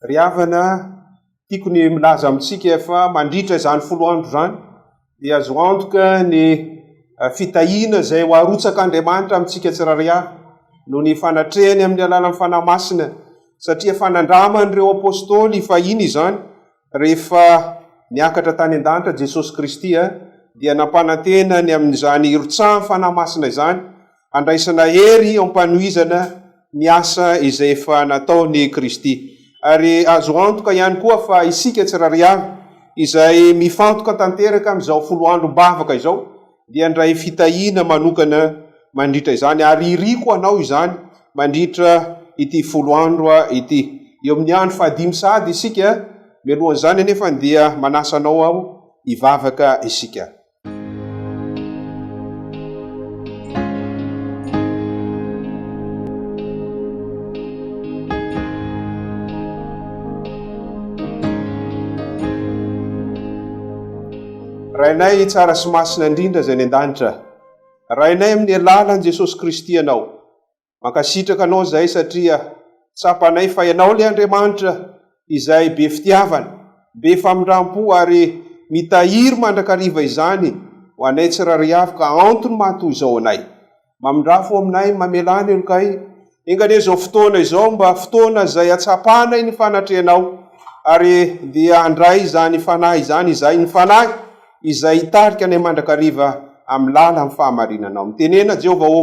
Ry havana, tiako ny milaza amintsika fa mandritra izany folo andro izany dia azo antoka ny eh, fitahiana izay ho arotsak'Andriamanitra amintsika tsirairay avy noho ny fanatrehany amin'ny alalan'ny fanahy masina satria efa nandraman'ireo apôstôly fahiny izany rehefa niakatra tany an-danitra Jesosy Kristy eh, dia nampanantena ny amin'izany irotsahan'ny fanahy masina izany handraisana hery am-panohizana ny asa izay efa nataon'i Kristy. Ary azo antoka ihany koa fa isika tsirairay avy, izay mifantoka tanteraka amin'izao folo androm-bavaka izao, dia handray fitahiana manokana mandritra izany. Ary iriko hanao izany mandritra ity folo andro ity. Eo amin'ny andro fahadimy sahady isika, mialohan'izany anefa dia manasa anao aho hivavaka isika. Rainay tsara sy masina indrindra izay any an-danitra, Rainay amin'ny alalan'i Jesosy Kristy ianao Mankasitraka anao izay satria tsapanay fa ianao ilay Andriamanitra izay be fitiavana, be famindrampo ary mitahiry mandrakariva izany ho anay tsirairay avy ka antony maha toy izao anay. Mamindrafo aminay, mamelà ny helokay. Enga anie izao fotoana izao mba fotoana izay hatsapanay ny fanatrehanao ary dia handray izany Fanahy izany izahay, ny Fanahy izay hitarika anay mandrakariva amin'ny lalan'ny fahamarinanao. Mitenena Jehovah ô!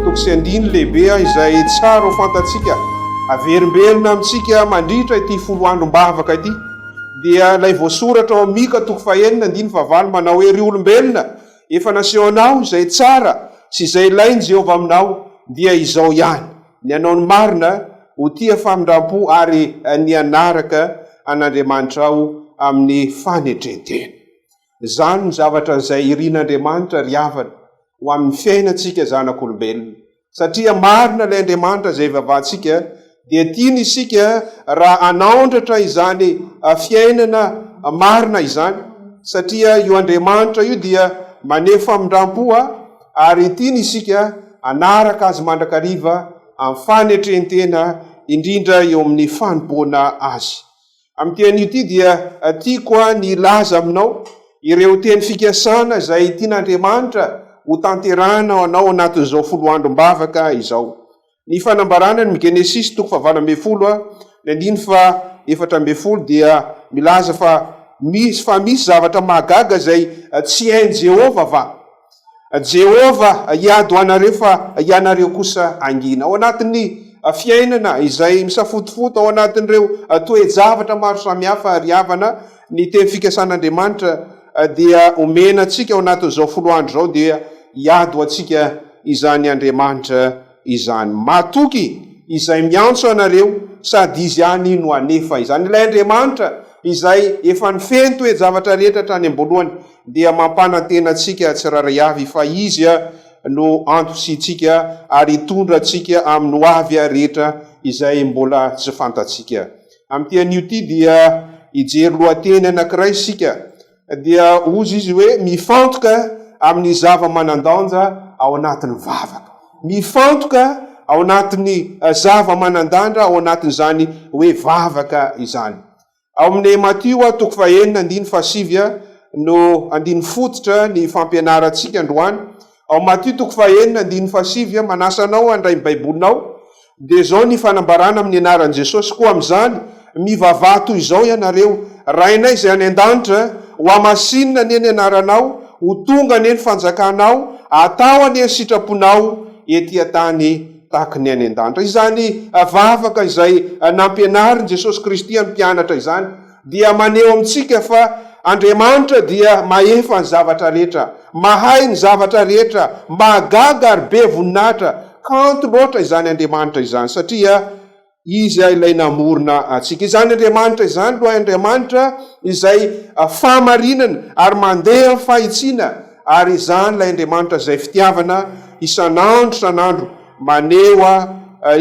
Toko sy andininy lehibe izay tsara ho fantatsika, averimberina amintsika mandritra ity folo androm-bavaka ity, dia ilay voasoratra ao Mika toko fahenina andininy fahavalo manao hoe, Ry olombelona, efa nasehonao izay tsara sy izay ilain'i Jehovah aminao, dia izao ihany, Ny hanao ny marina, ho tia famindram-po ary ny hanaraka an'Andriamanitrao amin'ny fanetren-tena. Izany no zavatra izay irin'Andriamanitra ry havana ho amin'ny fiainantsika zanak'olombelona. Satria marina ilay Andriamanitra izay ivavahantsika dia tiany isika raha hanaondratra izany fiainana marina izany satria io Andriamanitra io dia maneho famindrampo ary tiany isika hanaraka Azy mandrakariva amin'ny fanetrentena indrindra eo amin'ny fanompoana Azy. Amin'ity anio ity dia tiako ny hilaza aminao ireo teny fikasana izay tian'Andriamanitra ho tanterahina ho anao anatin'izao folo androm-bavaka izao. Ny fanambarana ny Genesisy toko fahavalo ambin'ny folo ny andininy fa efatra ambin'ny folo dia milaza fa misy fa misy zavatra mahagaga izay tsy hain'i Jehovah va? Jehovah hiady ho anareo fa ianareo kosa hangina. Ao anatin'ny fiainana izay misafotofoto ao anatin'ireo toe-javatra maro samihafa ry havana, ny teny fikasan'Andriamanitra dia omena antsika ao anatin'izao folo andro izao dia hiady ho antsika izany Andriamanitra izany. Matoky izay miantso anareo sady izy ihany no hanefa izany. Ilay Andriamanitra izay efa nifehy ny toe-javatra rehetra hatrany am-boalohany dia mampanantena antsika tsirairay avy fa izy no antontsika ary hitondra antsika amin'ny ho avy rehetra izay mbola tsy fantatsika. Amin'ity anio ity dia hijery lohateny anankiray isika. dia hozy izy hoe mifantoka amin'ny zava-manan-danja ao anatin'ny vavaka. Mifantoka ao anatin'ny eh, zava-manan-danja ao anatin'izany hoe vavaka izany. Ao amin'ny Matio toko fahenina andiny fasivy no andiny fototra ny fampianarantsika androany Ao Matio toko fahenina andininy fahasivy aho manasa anao handray ny Baibolinao, dia izao ny fanambarana amin'ny anaran'i Jesosy, koa amin'izany, mivavaha toy izao ianareo, Rainay izay any an-danitra, hohamasinina anie ny anaranao, ho tonga anie ny fanjakanao, atao anie ny sitraponao ety an-tany tahaka ny any an-danitra. Izany vavaka izay nampianarin'i Jesosy Kristy amin'ny mpianatra izany, dia maneho amintsika fa Andriamanitra dia mahefa ny zavatra rehetra, mahay ny zavatra rehetra, mahagaga ary be voninahitra, kanto loatra izany Andriamanitra izany satria Izy ilay namorona antsika. Izany Andriamanitra izany, lohay Andriamanitra izay fahamarinana ary mandeha amin'ny fahitsiana, ary izany ilay Andriamanitra izay fitiavana isan'andro isan'andro maneho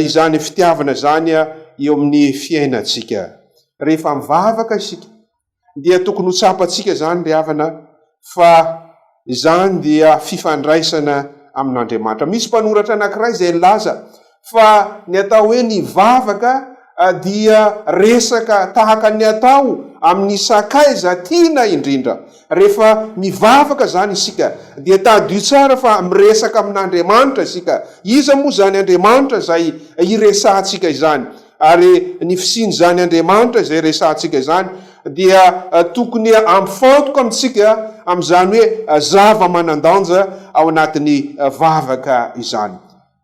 izany fitiavana izany eo amin'ny fiainantsika. rehefa mivavaka isika dia tokony ho tsapantsika izany ry havana fa izany dia fifandraisana amin'Andriamanitra. Misy mpanoratra anankiray izay nilaza fa ny atao hoe ny vavaka ah, dia resaka tahaka ny atao amin'ny sakaiza tiana indrindra. Rehefa mivavaka izany isika dia tadidio tsara fa miresaka amin'Andriamanitra isika. Iza moa izany Andriamanitra izay hiresahantsika izany? Ary ny fisian'izany Andriamanitra izay resahantsika izany dia tokony hampifantoka amintsika amin'izany hoe zava-manan-danja ao anatin'ny vavaka izany.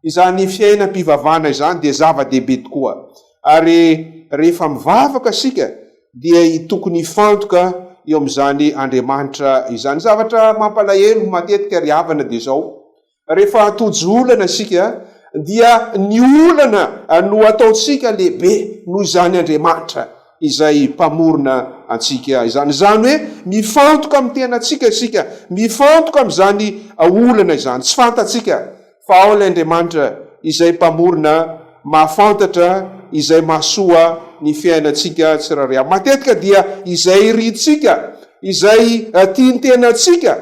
Izany fiainam-pivavahana izany dia zava-dehibe tokoa. Ary rehefa mivavaka isika dia tokony hifantoka eo amin'izany Andriamanitra izany. Zavatra mampalahelo matetika ry havana dia izao, Rehefa tojo olana isika dia ny olana no ataontsika lehibe noho izany Andriamanitra izay mpamorona antsika izany. Izany hoe mifantoka amin'ny tenantsika isika, mifantoka amin'izany olana izany tsy fantatsika fa ao ilay Andriamanitra izay mpamorona mahafantatra izay mahasoa ny fiainantsika tsirairay avy. Matetika dia izay irintsika, izay tian'ny tenantsika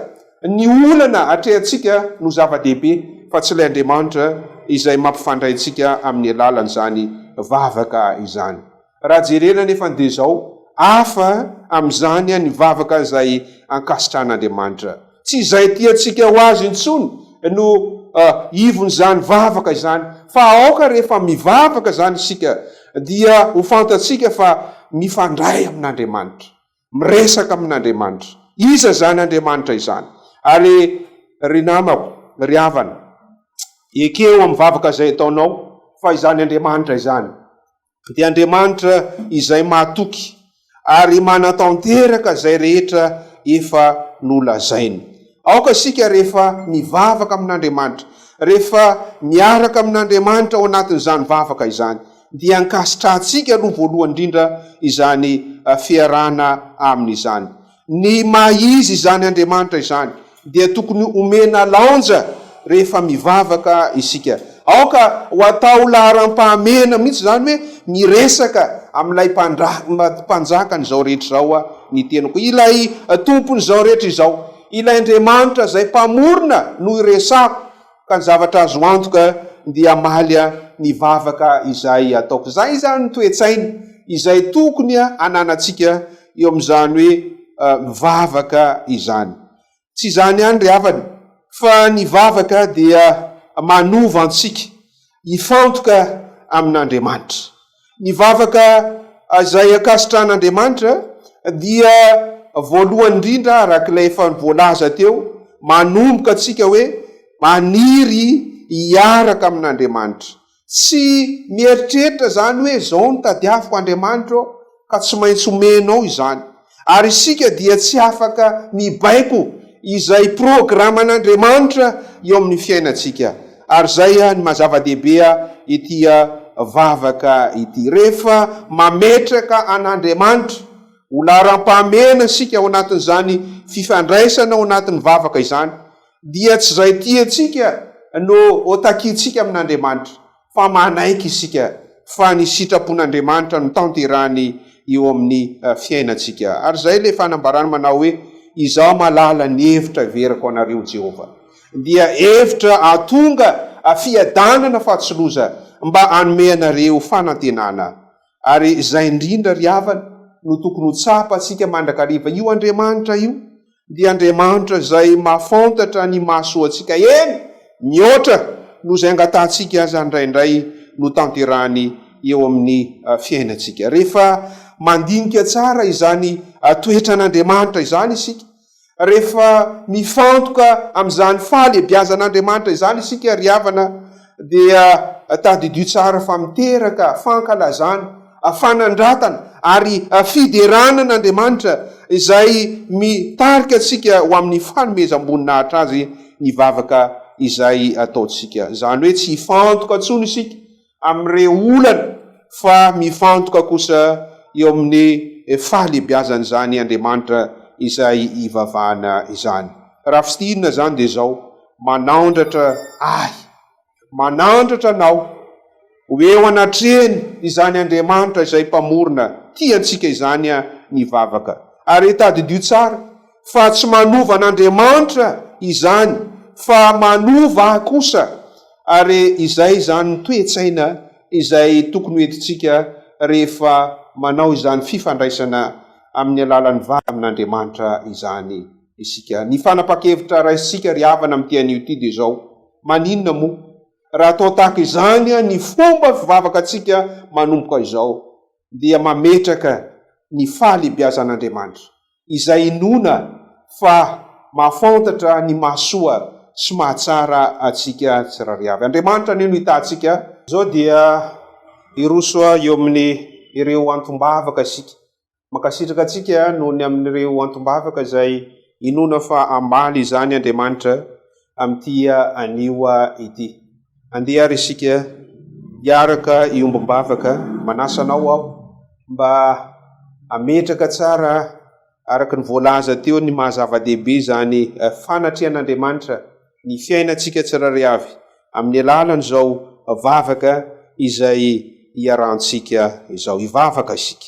Ny olana atrehantsika no zava-dehibe fa tsy ilay Andriamanitra izay mampifandray antsika amin'ny alalan'izany vavaka izany. Raha jerena anefa dia izao, hafa amin'izany ny vavaka izay ankasitrahan'Andriamanitra. Tsy izay tiantsika ho azy intsony no ivon'izany vavaka izany fa aoka rehefa mivavaka izany isika dia ho fantatsika fa mifandray amin'Andriamanitra. miresaka amin'Andriamanitra. Iza izany Andriamanitra izany? Ary ry namako, ry havana, ekeo amin'ny vavaka izay ataonao fa izany Andriamanitra izany dia Andriamanitra izay mahatoky ary manatanteraka izay rehetra efa nolazainy. Aoka isika rehefa mivavaka amin'Andriamanitra, rehefa miaraka amin'Andriamanitra ao anatin'izany vavaka izany, dia ankasitrahantsika aloha voalohany indrindra izany fiarahana Aminy izany. Ny maha-izy izany Andriamanitra izany dia tokony omena laonja Rehefa mivavaka isika, aoka ho atao laharam-pahamehana mihitsy izany hoe miresaka amin'ilay Mpanjakan'izao rehetra izao aho, ny teniko. Ilay Tompon'izao rehetra izao, ilay Andriamanitra izay Mpamorona no iresako, ka ny zavatra azo antoka dia hamaly ny vavaka izay ataoko. Izay izany ny toe-tsaina izay tokony hananantsika eo amin'izany hoe mivavaka izany. Tsy izany ihany ry havana, fa ny vavaka dia manova antsika hifantoka amin'Andriamanitra. Ny vavaka izay ankasitran'Andriamanitra dia voalohany indrindra, araka ilay efa voalaza teo, manomboka antsika hoe maniry hiaraka amin'Andriamanitra. Tsy mieritreritra izany hoe izao no tadiaviko Andriamanitra ô, ka tsy maintsy omenao izany. Ary isika dia tsy afaka mibaiko izay programan'Andriamanitra eo amin'ny fiainantsika. Ary izay ny maha-zava-dehibe ity vavaka ity. Rehefa mametraka an'Andriamanitra ho laharam-pahamehana isika ao anatin'izany fifandraisana ao anatin'ny vavaka izany, dia tsy izay tiantsika no ho takiantsika amin'Andriamanitra, fa manaiky isika fa ny sitrapon'Andriamanitra no tanterahiny eo amin'ny fiainantsika. Ary izay ilay fanambarany manao hoe, Izaho mahalala ny hevitra heverako anareo, Jehovah, dia hevitra hahatonga fiadanana fa tsy loza, mba hanome anareo fanantenana. Ary izay indrindra ry havana no tokony ho tsapantsika mandrakariva, io Andriamanitra io dia Andriamanitra izay mahafantatra ny mahasoa antsika, eny, mihoatra noho izay angatahantsika aza indraindray no tanterahiny eo amin'ny fiainantsika. Rehefa mandinika tsara izany toetran'Andriamanitra izany isika Rehefa mifantoka amin'izany fahalebiazan'Andriamanitra izany isika ry havana dia tadidio tsara fa miteraka fankalazana, fanandratana ary fiderana an'Andriamanitra izay mitarika antsika ho amin'ny fanomezam-boninahitra Azy ny vavaka izay ataontsika. Izany hoe tsy hifantoka intsony isika amin'ireo olana fa mifantoka kosa eo amin'ny fahalehibiazan'izany Andriamanitra izay ivavahana izany. Raha fintinina izany dia izao, Manandratra ahy, manandratra anao ho eo anatrehany izany Andriamanitra izay Mpamorona tia antsika izany ny vavaka. Ary tadidio tsara fa tsy manova an'Andriamanitra izany fa manova ahy kosa, ary izay izany ny toe-tsaina izay tokony ho entintsika rehefa manao izany fifandraisana amin'ny alalan'ny vady amin'Andriamanitra izany isika. Ny fanapan-kevitra raisintsika ry havana amin'ity anio ity dia izao, Maninona moa raha atao tahaka izany ny fomba fivavakantsika manomboka izao dia mametraka ny fahalehibiazan'Andriamanitra izay inoana fa mahafantatra ny mahasoa sy mahatsara antsika tsirairay avy. Andriamanitra anie no hitantsika. Izao dia hiroso eo amin' ireo antom-bavaka isika. Mankasitraka antsika noho ny amin' ireo antom-bavaka izay inoana fa hambaly izany Andriamanitra amin'ity anio ity. Andeha ary isika hiaraka hiombom-bavaka, manasa anao aho mba hametraka tsara araka ny voalaza teo ny maha zava-dehibe izany fanatrehan'Andriamanitra ny fiainantsika tsirairay avy amin'ny alalan'izao vavaka izay iarahantsika izao. Hivavaka isika.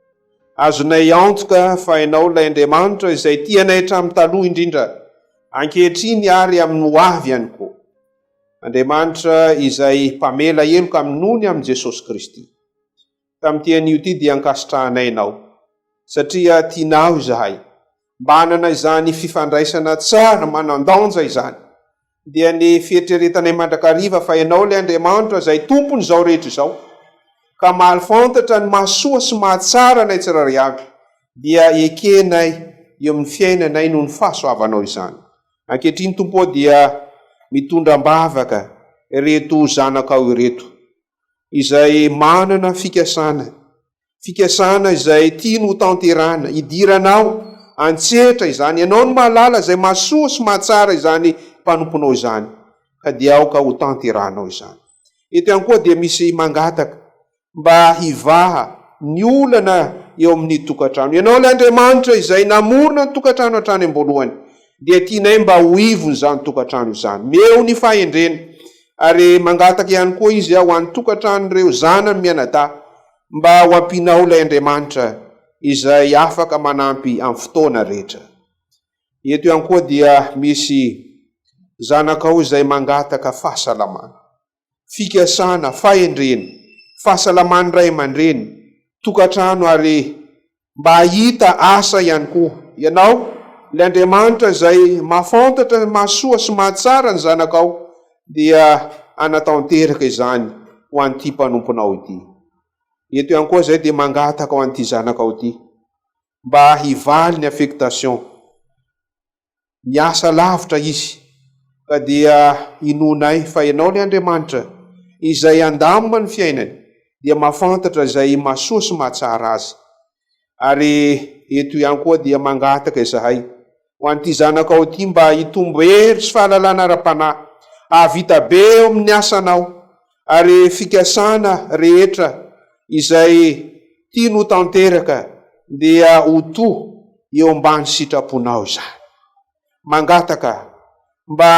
Azonay antoka fa Ianao ilay Andriamanitra izay tia anay hatramin'ny taloha indrindra, ankehitriny ary amin'ny ho avy ihany koa. Andriamanitra izay mpamela heloka amin'ny nony amin'i Jesosy Kristy. Tamin'ity anio ity dia ankasitrahanay Ianao, satria tianao izahay. Mba hanana izany fifandraisana tsara manan-danja izany. dia ny fieritreretanay mandrakariva fa Ianao ilay Andriamanitra izay Tompon'izao rehetra izao, ka mahafantatra ny mahasoa sy mahatsara anay tsirairay avy, dia ekenay eo amin'ny fiainanay noho ny fahasoavanao izany. Ankehitriny, Tompo ô, dia mitondra am-bavaka ireto zanakao ireto, izay manana fikasana fikasana izay tiany ho tanterahina, idiranao an-tsehatra izany, ianao no mahalala izay mahasoa sy mahatsara izany mpanomponao izany, ka dia aoka ho tanterahanao izany. Eto ihany koa dia misy mangataka mba hivaha ny olana eo amin'ny tokantrano. Ianao ilay Andriamanitra izay namorona ny tokantrano hatrany am-boalohany, dia tianay mba ho ivon'izany tokantrano izany. Meo ny fahendrena. ary mangataka ihany koa izy ho an'ny tokantranon'ireo zanany mianadahy mba ho ampianao ilay Andriamanitra izay afaka manampy amin'ny fotoana rehetra. Eto ihany koa dia misy zanakao izay mangataka fahasalamana, fikasana, fahendrena, fahasalaman'ny ray aman-dreny, tokantrano ary mba hahita asa ihany koa ianao, ilay Andriamanitra izay mahafantatra ny mahasoa sy mahatsara ny zanakao dia hanatanteraka izany ho an'ity mpanomponao ity. Eto ihany koa izay dia mangataka ho an'ity zanakao ity mba hivaly ny affectation. Niasa lavitra izy, ka dia inoanay fa Ianao ilay Andriamanitra izay handamina ny fiainany, dia mahafantatra izay mahasoa sy mahatsara azy. Ary eto ihany koa dia mangataka izahay ho an'ity zanakao ity mba hitombo hery sy fahalalana ara-panahy, hahavita be eo amin'ny asanao, ary fikasana rehetra izay tiany ho tanteraka dia ho toa eo ambany sitraponao izany. Mangataka mba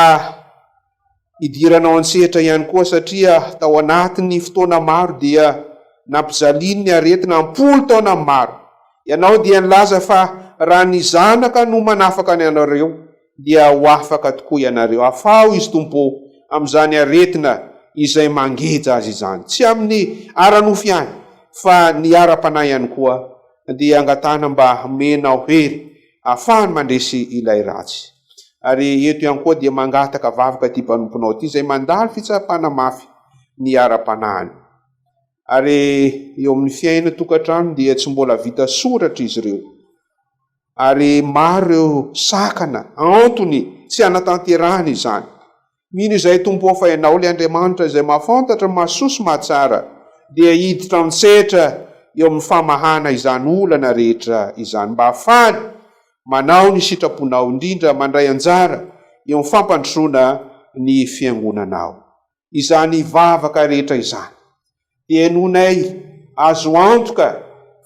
hidiranao an-tsehatra ihany koa satria tao anatin'ny fotoana maro dia nampijalian'ny aretina am-polo taona ny maro. Ianao dia nilaza fa raha ny zanaka no manafaka ny anareo dia ho afaka tokoa ianareo. Afaho izy Tompo ô, amin'izany aretina izay mangeja azy izany. Tsy amin'ny ara-nofo ihany, fa ny ara-panahy ihany koa, dia angatahana mba hamenao hery ahafahany mandresy ilay ratsy. Ary eto ihany koa dia mangataka vavaka ity mpanomponao ity izay mandalo fitsapana mafy ny ara-panahiny. Ary eo amin'ny fiaina tokantranony dia tsy mbola vita soratra izy ireo. ary maro ireo sakana antony tsy hanatanterahana izany. Mino izay Tompo ao fa Ianao ilay Andriamanitra izay mahafantatra, mahasoa sy mahatsara dia hiditra an-tsetra eo amin'ny famahana izany olana rehetra izany mba hahafahany manao ny sitraponao indrindra mandray anjara eo amin'ny fampandrosoana ny Fiangonanao. izany vavaka rehetra izany. Henonay azo antoka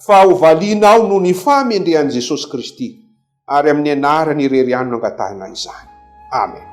fa ho valianao noho ny fahamendrehan'i Jesosy Kristy, ary amin'ny anarany irery ihany no angatahinay izany. Amen.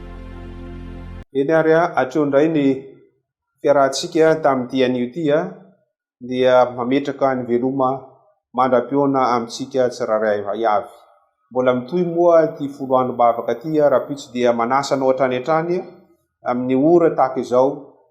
Eny ary hatreo indray ny fiarahantsika tamin'ity anio ity dia mametraka ny veloma mandra-pihaona amintsika tsirairay avy. Mbola mitohy moa ity folo androm-bavaka ity rahampitso dia manasa anao hatrany hatrany amin'ny ora tahaka izao.